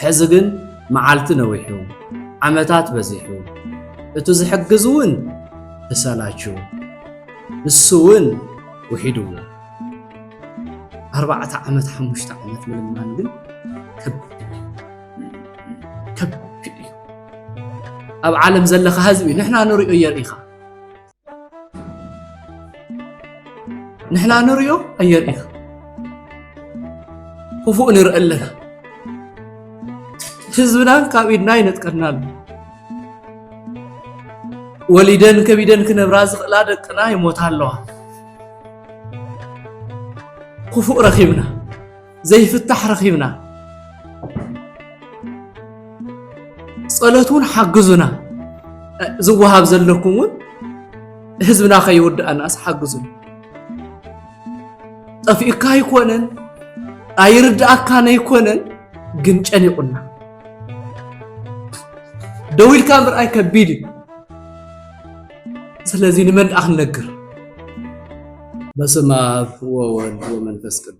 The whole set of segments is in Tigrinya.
ሕዚ ግን መዓልቲ ነዊሑ ዓመታት በዚሑ እቱ ዝሕግዝ እውን ተሰላችሁ ንሱ እውን ውሒድዎ ኣርባዕተ ዓመት ሓሙሽተ ዓመት ምልማን ግን ከቢድ ከብክእ እዩ ኣብ ዓለም ዘለኻ ህዝቢ ንሕና ንሪኦ የርኢኻ ንሕና ንሪኦ ኣየርኢኻ ክፉእ ንርኢ ኣለና ህዝብና ካብ ኢድና ይነጥቀና ኣሎ ወሊደን ከቢደን ክነብራ ዝኽእላ ደቅና ይሞታ ኣለዋ ክፉእ ረኺብና ዘይፍታሕ ረኺብና ጸሎት እውን ሓግዙና ዝወሃብ ዘለኩም እውን ህዝብና ከይውድኣናስ ሓግዙና ጠፊኡካ ኣይኮነን ኣይርድኣካን ኣይኮነን ግን ጨኒቑና ደው ኢልካ ምርኣይ ከቢድ እዩ ስለዚ ንመን ደኣ ክንነግር በስመ አብ ወወልድ ወመንፈስ ቅዱስ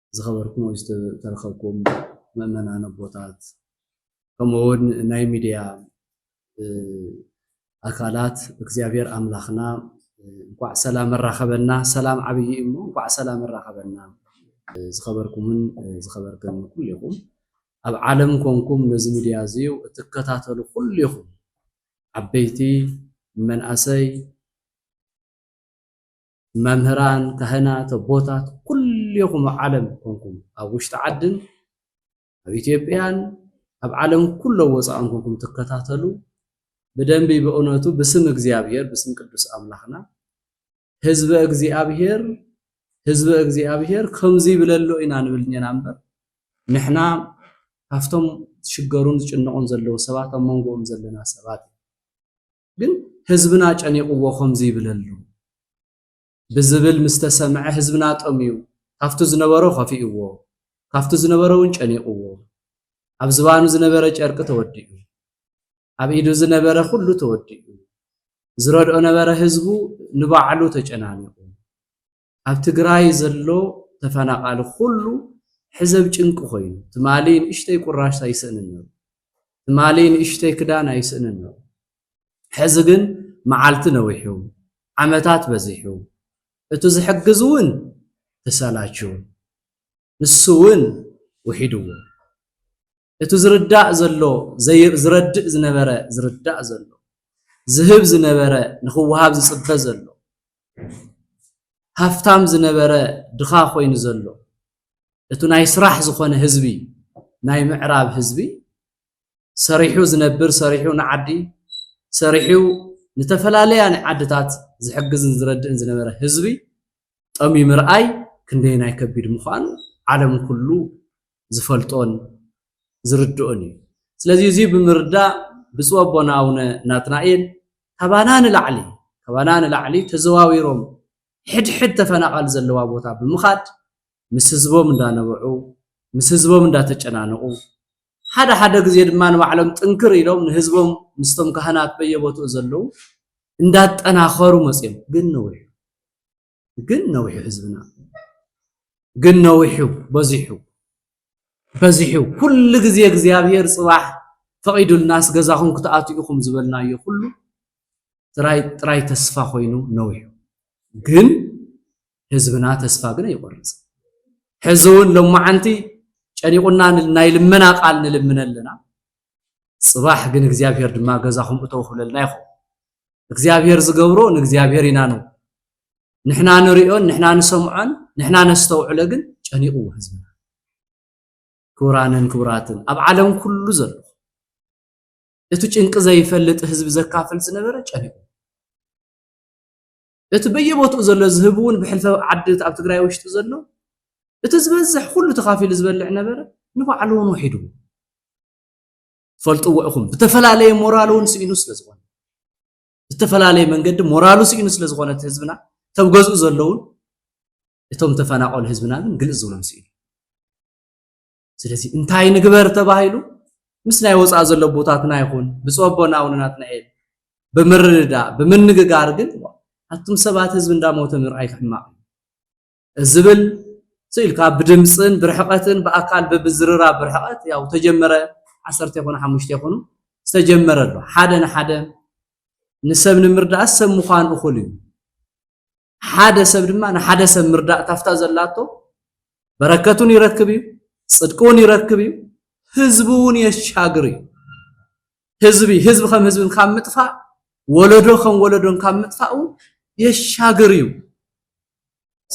ዝኸበርኩም ወይ ዝተረኸብኩም ምእመናን ኣቦታት ከምኡ እውን ናይ ሚድያ ኣካላት እግዚኣብሔር ኣምላኽና እንኳዕ ሰላም ኣራኸበና። ሰላም ዓብዪ እሞ እንኳዕ ሰላም ኣራኸበና። ዝኸበርኩምን ዝኸበርክን ኩሉ ይኹም ኣብ ዓለም ኮንኩም ነዚ ሚድያ እዚ እትከታተሉ ኩሉ ይኹም ዓበይቲ መናእሰይ መምህራን ካህናት ኣቦታት ኩሌኹም ኣብ ዓለም ኮንኩም ኣብ ውሽጢ ዓድን ኣብ ኢትዮጵያን ኣብ ዓለም ኩሎ ወፃእን ኮንኩም ትከታተሉ ብደንቢ ብእውነቱ ብስም እግዚኣብሔር ብስም ቅዱስ ኣምላኽና ህዝበ እግዚኣብሔር ህዝበ እግዚኣብሔር ከምዚ ይብለሎ ኢና ንብል እኔና እምበር ንሕና ካብቶም ዝሽገሩን ዝጭነቑን ዘለዉ ሰባት ኣብ መንጎኦም ዘለና ሰባት ግን ህዝብና ጨኒቕዎ ከምዚ ይብለሉ ብዝብል ምስ ተሰምዐ ህዝብና ጠምዩ ካብቲ ዝነበሮ ከፊእዎ ካብቲ ዝነበረ እውን ጨኒቕዎ ኣብ ዝባኑ ዝነበረ ጨርቂ ተወዲኡ ኣብ ኢዱ ዝነበረ ኩሉ ተወዲኡ ዝረድኦ ነበረ ህዝቡ ንባዕሉ ተጨናኒቑ ኣብ ትግራይ ዘሎ ተፈናቃሊ ኩሉ ሕዘብ ጭንቂ ኮይኑ ትማሊ ንእሽተይ ቁራሽ ኣይስእንን ነሩ ትማሊ ንእሽተይ ክዳን ኣይስእንን ነሩ ሕዚ ግን መዓልቲ ነዊሑ ዓመታት በዚሑ እቱ ዝሕግዝ እውን ተሰላችው ንሱ እውን ውሒድዎ እቱ ዝርዳእ ዘሎ ዝረድእ ዝነበረ ዝርዳእ ዘሎ ዝህብ ዝነበረ ንኽወሃብ ዝፅበ ዘሎ ሃፍታም ዝነበረ ድኻ ኮይኑ ዘሎ እቱ ናይ ስራሕ ዝኾነ ህዝቢ ናይ ምዕራብ ህዝቢ ሰሪሑ ዝነብር ሰሪሑ ንዓዲ ሰሪሑ ንተፈላለያ ዓድታት ዝሕግዝን ዝረድእን ዝነበረ ህዝቢ ጠሚ ምርኣይ ክንደየናይ ከቢድ ምዃኑ ዓለም ኩሉ ዝፈልጦን ዝርድኦን እዩ። ስለዚ እዚ ብምርዳእ ብፁዕ ኣቦና ኣቡነ ናትናኤል ካባና ንላዕሊ ካባና ንላዕሊ ተዘዋዊሮም ሕድሕድ ተፈናቓል ዘለዋ ቦታ ብምኻድ ምስ ህዝቦም እንዳነበዑ ምስ ህዝቦም እንዳተጨናነቑ ሓደ ሓደ ግዜ ድማ ንባዕሎም ጥንክር ኢሎም ንህዝቦም ምስቶም ካህናት በየቦትኡ ዘለዉ እንዳጠናኸሩ መፅኦም ግን ነዊሑ ግን ነዊሑ ህዝብና ግን ነዊሑ በዚሑ በዚሑ ኩሉ ግዜ እግዚኣብሔር ጽባሕ ፈቒዱልናስ ገዛኹም ክትኣትኡ ኢኹም ዝበልናዮ ኩሉ ጥራይ ጥራይ ተስፋ ኮይኑ ነዊሑ ግን ህዝብና ተስፋ ግን ኣይቆርጽ ሕዚ እውን ሎማዓንቲ ጨኒቑና ናይ ልመና ቃል ንልምነ ኣለና ጽባሕ ግን እግዚኣብሔር ድማ ገዛኹም እተው ክብለልና ይኹም እግዚኣብሔር ዝገብሮ ንእግዚኣብሔር ኢና ነው ንሕና ንሪኦን ንሕና ንሰምዖን ንሕና ነስተውዕሎ ግን ጨኒቕዎ ህዝብና ክቡራንን ክቡራትን ኣብ ዓለም ኩሉ ዘሎ እቲ ጭንቂ ዘይፈልጥ ህዝቢ ዘካፍል ዝነበረ ጨኒቑ እቲ በየቦትኡ ዘሎ ዝህብ እውን ብሕልፈ ዓዲ ኣብ ትግራይ ውሽጢ ዘሎ እቲ ዝበዝሕ ኩሉ ተኻፊሉ ዝበልዕ ነበረ ንባዕሉ እውን ውሒድዎ ፈልጥዎ ኢኹም ብተፈላለየ ሞራሉ እውን ስኢኑ ስለ ዝኾነ ብዝተፈላለየ መንገዲ ሞራሉ ስኢኑ ስለ ዝኾነ እቲ ህዝብና ተብ ገዝኡ ዘለውን እቶም ተፈናቐሉ ህዝብና ግን ግልፅ ዝብሎም ስኢኑ ስለዚ እንታይ ንግበር ተባሂሉ ምስ ናይ ወፃእ ዘሎ ቦታትና ይኹን ብፁዕ ኣቦና እውን ናትናኤል ብምርድዳእ ብምንግጋር ግን ኣቱም ሰባት ህዝቢ እንዳሞተ ምርኣይ ክሕማቕ ዝብል ስኢልካ ብድምፅን ብርሕቐትን ብኣካል ብብዝርራብ ብርሕቐት ያው ተጀመረ ዓሰርተ ይኹኑ ሓሙሽተ ይኹኑ ዝተጀመረ ኣሎ ሓደ ንሓደ ንሰብ ንምርዳእ ሰብ ምዃን እኹል እዩ ሓደ ሰብ ድማ ንሓደ ሰብ ምርዳእ ካብታ ዘላቶ በረከት እውን ይረክብ እዩ ፅድቂ እውን ይረክብ እዩ ህዝቢ እውን የሻግር እዩ ህዝቢ ህዝቢ ከም ህዝብን ካብ ምጥፋእ ወለዶ ከም ወለዶን ካብ ምጥፋእ እውን የሻግር እዩ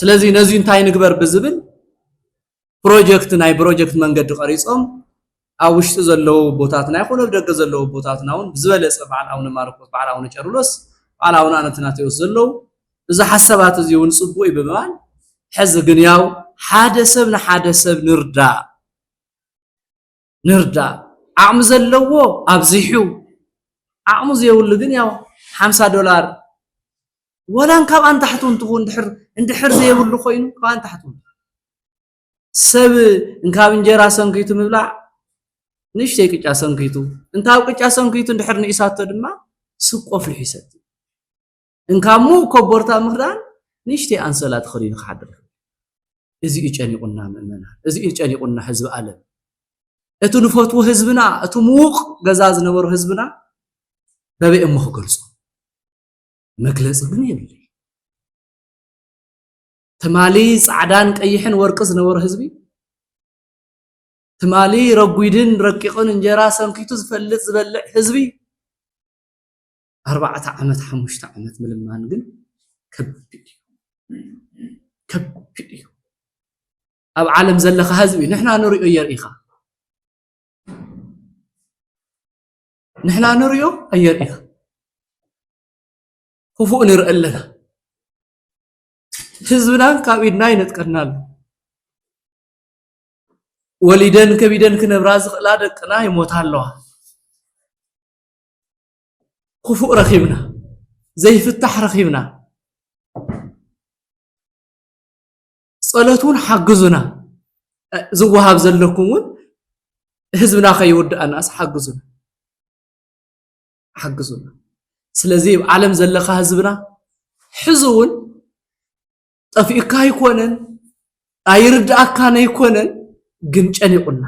ስለዚ ነዚ እንታይ ንግበር ብዝብል ፕሮጀክት ናይ ፕሮጀክት መንገዲ ቀሪፆም ኣብ ውሽጢ ዘለዉ ቦታትና ይኹን ኣብ ደገ ዘለዉ ቦታትና እውን ብዝበለፀ በዓል ኣቡነ ማርቆስ በዓል ኣቡነ ጨርሎስ በዓል ኣቡነ ኣነትናቴዎስ ዘለዉ እዚ ሓሳባት እዚ እውን ፅቡቅ እዩ ብምባል ሕዚ ግን ያው ሓደ ሰብ ንሓደ ሰብ ንርዳእ ንርዳእ ዓቕሚ ዘለዎ ኣብዚሑ ዓቕሚ ዘይብሉ ግን ያው ሓምሳ ዶላር ወላን ካብኣን ታሕቱ እንትኹን ድሕር እንድሕር ዘይብሉ ኮይኑ ካብኣን ታሕቱ ሰብ እንካብ እንጀራ ሰንኪቱ ምብላዕ ንእሽተይ ቅጫ ሰንኪቱ እንታብ ቅጫ ሰንኪቱ እንድሕር ንኢሳቶ ድማ ስብ ቆፊሑ ይሰቲ እንካሞ ኮቦርታ ምኽዳን ንእሽተይ ኣንሶላ ተኸዲኑ ክሓድር ይኽእል እዚ እዩ ጨኒቑና ምእመና እዚ እዩ ጨኒቑና ህዝቢ ኣለም እቲ ንፈትዎ ህዝብና እቲ ምዉቕ ገዛ ዝነበሮ ህዝብና በበይ እሞ ክገልጾ መግለጺ ግን የብለይ ትማሊ ጻዕዳን ቀይሕን ወርቂ ዝነበሮ ህዝቢ ትማሊ ረጒድን ረቂቕን እንጀራ ሰንኪቱ ዝፈልጥ ዝበልዕ ህዝቢ ኣርባዕተ ዓመት ሓሙሽተ ዓመት ምልማን ግን ከቢድ እዩ ከቢድ እዩ ኣብ ዓለም ዘለካ ህዝቢ ንሕና ንሪኦ የርኢኻ ንሕና ንሪኦ ኣየርኢኻ ክፉእ ንርኢ ኣለና ህዝብና ካብ ኢድና ይነጥቀና ኣሎ ወሊደን ከቢደን ክነብራ ዝኽእላ ደቅና ይሞታ ኣለዋ ክፉእ ረኺብና ዘይፍታሕ ረኺብና ጸሎት እውን ሓግዙና ዝወሃብ ዘለኩም እውን ህዝብና ከይውድኣናስ ሓግዙና ሓግዙና ስለዚ ኣብ ዓለም ዘለካ ህዝብና ሕዚ እውን ጠፊኡካ ኣይኮነን ኣይርድኣካን ኣይኮነን ግን ጨኒቑና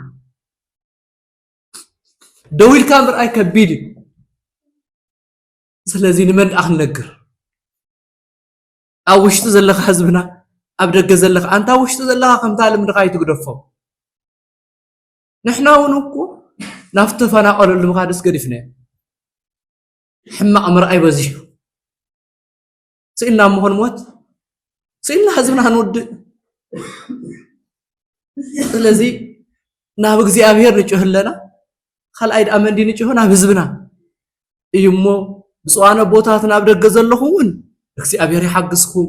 ደው ኢልካ ምርኣይ ከቢድ እዩ ስለዚ ንመን ደኣ ክንነግር ኣብ ውሽጢ ዘለካ ህዝብና ኣብ ደገ ዘለካ ኣንታ ውሽጢ ዘለካ ከምታ ልምድካ ይትግደፎ ንሕና እውን እኮ ናብ ተፈናቀለሉ ምካድስ ገዲፍናዮ ሕማቅ ምርኣይ በዚሑ ስኢልና እሞ ንሞት ስኢልና ህዝብና ክንውድእ ስለዚ ናብ እግዚኣብሔር ንጭህ ኣለና ካልኣይ ድኣ መንዲ ንጭሆ ናብ ህዝብና እዩ እሞ ብፁዓን ኣቦታት ናብ ደገ ዘለኹም እውን እግዚኣብሔር ይሓግዝኩም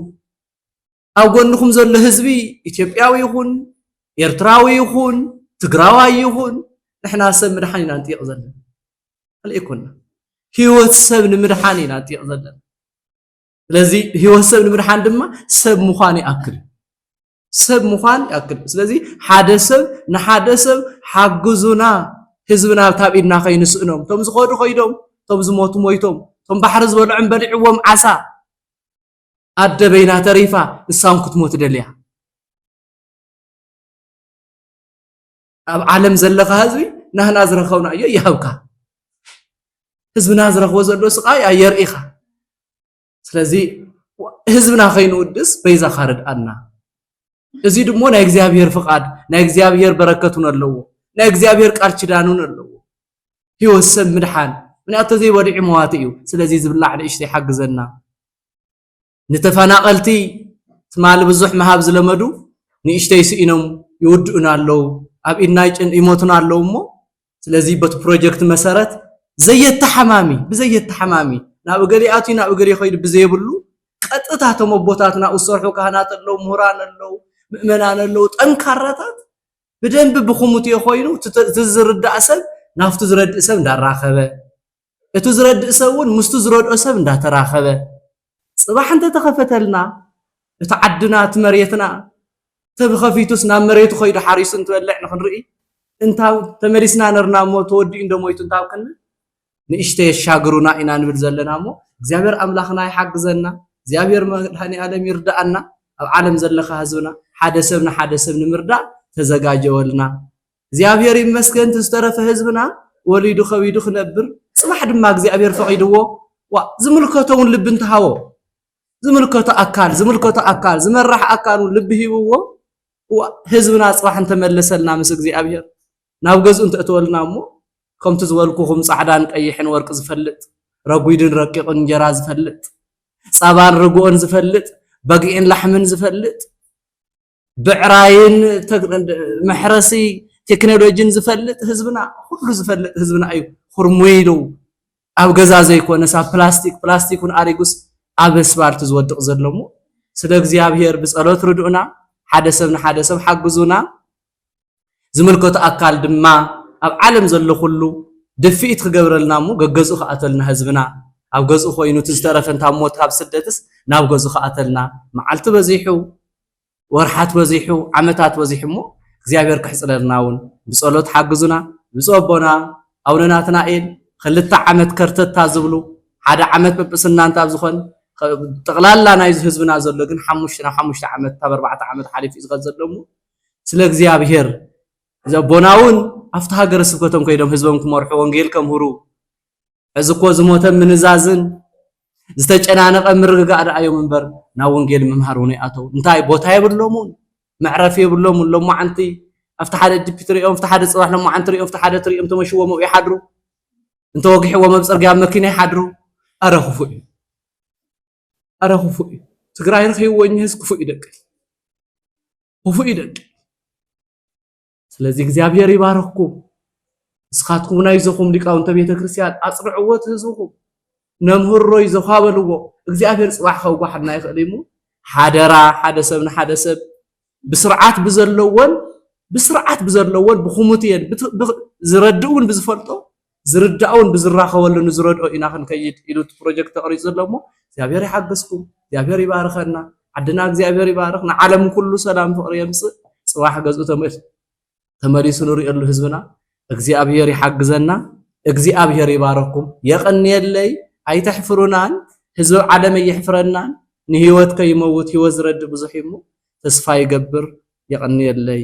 ኣብ ጎንኹም ዘሎ ህዝቢ ኢትዮጵያዊ ይኹን ኤርትራዊ ይኹን ትግራዋይ ይኹን ንሕና ሰብ ምድሓን ኢና ንጥይቕ ዘለና ካልእ ይኮና ህይወት ሰብ ንምድሓን ኢና ንጥይቕ ዘለና ስለዚ ህይወት ሰብ ንምድሓን ድማ ሰብ ምዃን ይኣክል ሰብ ምዃን ይኣክል ስለዚ ሓደ ሰብ ንሓደ ሰብ ሓግዙና ህዝብና ካብ ኢድና ከይንስእኖም እቶም ዝኸዱ ከይዶም እቶም ዝሞቱ ሞይቶም እቶም ባሕሪ ዝበልዖም በሊዕዎም ዓሳ ኣደ በይና ተሪፋ ንሳ ውን ክትሞት ደልያ ኣብ ዓለም ዘለኻ ህዝቢ ናህና ዝረኸብናዮ ይሃብካ ህዝብና ዝረኽቦ ዘሎ ስቃይ ኣየርእኻ ስለዚ ህዝብና ከይንውድስ በይዛኻ ርድኣና እዚ ድሞ ናይ እግዚኣብሔር ፍቓድ ናይ እግዚኣብሔር በረከት እውን ኣለዎ ናይ እግዚኣብሔር ቃል ኪዳን እውን ኣለዎ ሂወት ሰብ ምድሓን ምክንያቱ ተዘይ በሊዑ መዋቲ እዩ ስለዚ ዝብላዕ ንእሽተይ ሓግዘና ንተፈናቀልቲ ትማሊ ብዙሕ ምሃብ ዝለመዱ ንእሽተይ ስኢኖም ይውድኡና ኣለዉ ኣብ ኢድና ይሞቱና ኣለዉ እሞ ስለዚ በቲ ፕሮጀክት መሰረት ዘየተሓማሚ ብዘየተሓማሚ ናብ እገሌ ኣትዩ ናብ እገሌ ከይዱ ብዘየብሉ ቀጥታ እቶም ኣቦታትና ዝሰርሑ ካህናት ኣለዉ ምሁራን ኣለዉ ምእመናን ኣለዉ ጠንካራታት ብደንቢ ብኩሙትዮ ኮይኑ እቲ ዝርዳእ ሰብ ናብቱ ዝረድእ ሰብ እንዳራኸበ እቱ ዝረድእ ሰብ እውን ምስቱ ዝረድኦ ሰብ እንዳተራኸበ ፅባሕ እንተተኸፈተልና እቲ ዓድና እቲ መሬትና ተብኸፊቱስ ናብ መሬቱ ከይዱ ሓሪሱ እንትበልዕ ንክንርኢ እንታብ ተመሊስና ነርና እሞ ተወዲኡ እንዶ ሞይቱ እንታብ ክንብል ንእሽተይ የሻግሩና ኢና ንብል ዘለና እሞ እግዚኣብሔር ኣምላኽና ይሓግዘና እግዚኣብሔር መድኃኒዓለም ይርዳኣና ኣብ ዓለም ዘለኻ ህዝብና ሓደ ሰብ ንሓደ ሰብ ንምርዳእ ተዘጋጀወልና እግዚኣብሔር ይመስገን እቲ ዝተረፈ ህዝብና ወሊዱ ከቢዱ ክነብር ጽባሕ ድማ እግዚኣብሔር ፈቒድዎ ዋ ዝምልከቶ እውን ልቢ እንተሃቦ ዝምልከቶ ኣካል ዝምልከቶ ኣካል ዝመራሕ ኣካል እውን ልቢ ሂብዎ ህዝብና ጽባሕ እንተመለሰልና ምስ እግዚኣብሔር ናብ ገዝኡ እንተእትወልና እሞ ከምቲ ዝበልኩኹም ጻዕዳን ቀይሕን ወርቂ ዝፈልጥ፣ ረጒድን ረቂቕን እንጀራ ዝፈልጥ፣ ጸባን ርግኦን ዝፈልጥ፣ በግዒን ላሕምን ዝፈልጥ፣ ብዕራይን መሕረሲ ቴክኖሎጂን ዝፈልጥ ህዝብና ኩሉ ዝፈልጥ ህዝብና እዩ ኩርሙይ ኢሉ ኣብ ገዛ ዘይኮነስ ኣብ ፕላስቲክ ፕላስቲክ እውን ኣሪጉስ ኣብ ኣስፋልት ዝወድቕ ዘሎ እሞ ስለ እግዚኣብሄር ብጸሎት ርድኡና ሓደ ሰብ ንሓደ ሰብ ሓግዙና ዝምልከቶ ኣካል ድማ ኣብ ዓለም ዘሎ ኩሉ ድፍኢት ክገብረልና እሞ ገገዝኡ ክኣተልና ህዝብና ኣብ ገዝኡ ኮይኑ እቲ ዝተረፈ እንታብ ሞት ካብ ስደትስ ናብ ገዝኡ ክኣተልና መዓልቲ በዚሑ ወርሓት በዚሑ ዓመታት በዚሑ እሞ እግዚኣብሔር ክሕፅረልና እውን ብፀሎት ሓግዙና ብፁዕ ኣቦና ኣቡነ ናትናኤል ክልተ ዓመት ከርተታ ዝብሉ ሓደ ዓመት ጵጵስና እንታብ ዝኾን ጠቕላላ ናይዚ ህዝብና ዘሎ ግን ሓሙሽተ ናብ ሓሙሽተ ዓመት ካብ ኣርባዕተ ዓመት ሓሊፉ እዩ ዝኸ ዘሎ እሞ ስለ እግዚኣብሔር እዚ ኣቦና እውን ኣብቲ ሃገረ ስብከቶም ከይዶም ህዝቦም ክመርሑ ወንጌል ከምህሩ ሕዚ እኮ ዝሞተ ምንዛዝን ዝተጨናነቐ ምርግጋእ ደኣ እዮም እምበር ናብ ወንጌል ምምሃር እውን ይኣተው እንታይ ቦታ የብሎምን መዕረፊ የብሎምን ሎማዓንቲ ኣብቲ ሓደ ዲፒ ትሪኦም ኣብቲ ሓደ ፅባሕ ሎማዓንቲ ትሪኦም ኣብቲ ሓደ ትሪኦም ተመሽዎም ኣብኡ ይሓድሩ እንተወጊሕዎም ኣብ ፅርግያ ኣብ መኪና ይሓድሩ ኣረ ክፉእ እዩ ኣረ ክፉእ እዩ ትግራይ ረኪብዎ እኝህስ ክፉእ ይደቂ ክፉእ ይደቂ ስለዚ እግዚኣብሔር ይባረክኩም ንስኻትኩም ናይ ዘኹም ሊቃውንተ ቤተ ክርስቲያን ኣፅንዕዎ እቲ ህዝብኹም ነምህሮይ ዘኳበልዎ እግዚኣብሔር ፅባሕ ከውጓሓና ይኽእል እሞ ሓደራ ሓደ ሰብ ንሓደ ሰብ ብስርዓት ብዘለዎን ብስርዓት ብዘለዎን ብኩሙቴን ዝረድእውን ብዝፈልጦ ዝርዳእውን ብዝራኸበሉ ንዝረድኦ ኢና ክንከይድ ኢሉ እቲ ፕሮጀክት ተቕሪፁ ዘሎ እሞ እግዚኣብሔር ይሓግዝኩም እግዚኣብሔር ይባርኸና ዓድና እግዚኣብሔር ይባርኽ ንዓለም ኩሉ ሰላም ፍቕሪ የምፅእ ፅባሕ ገዝኡ ተመል ተመሊሱ ንሪእሉ ህዝብና እግዚኣብሔር ይሓግዘና እግዚኣብሔር ይባረኩም የቀንየለይ ኣይተሕፍሩናን ህዝቢ ዓለም ኣይሕፍረናን ንህይወት ከይመውት ህይወት ዝረድ ብዙሕ እሞ ተስፋ ይገብር የቀንየለይ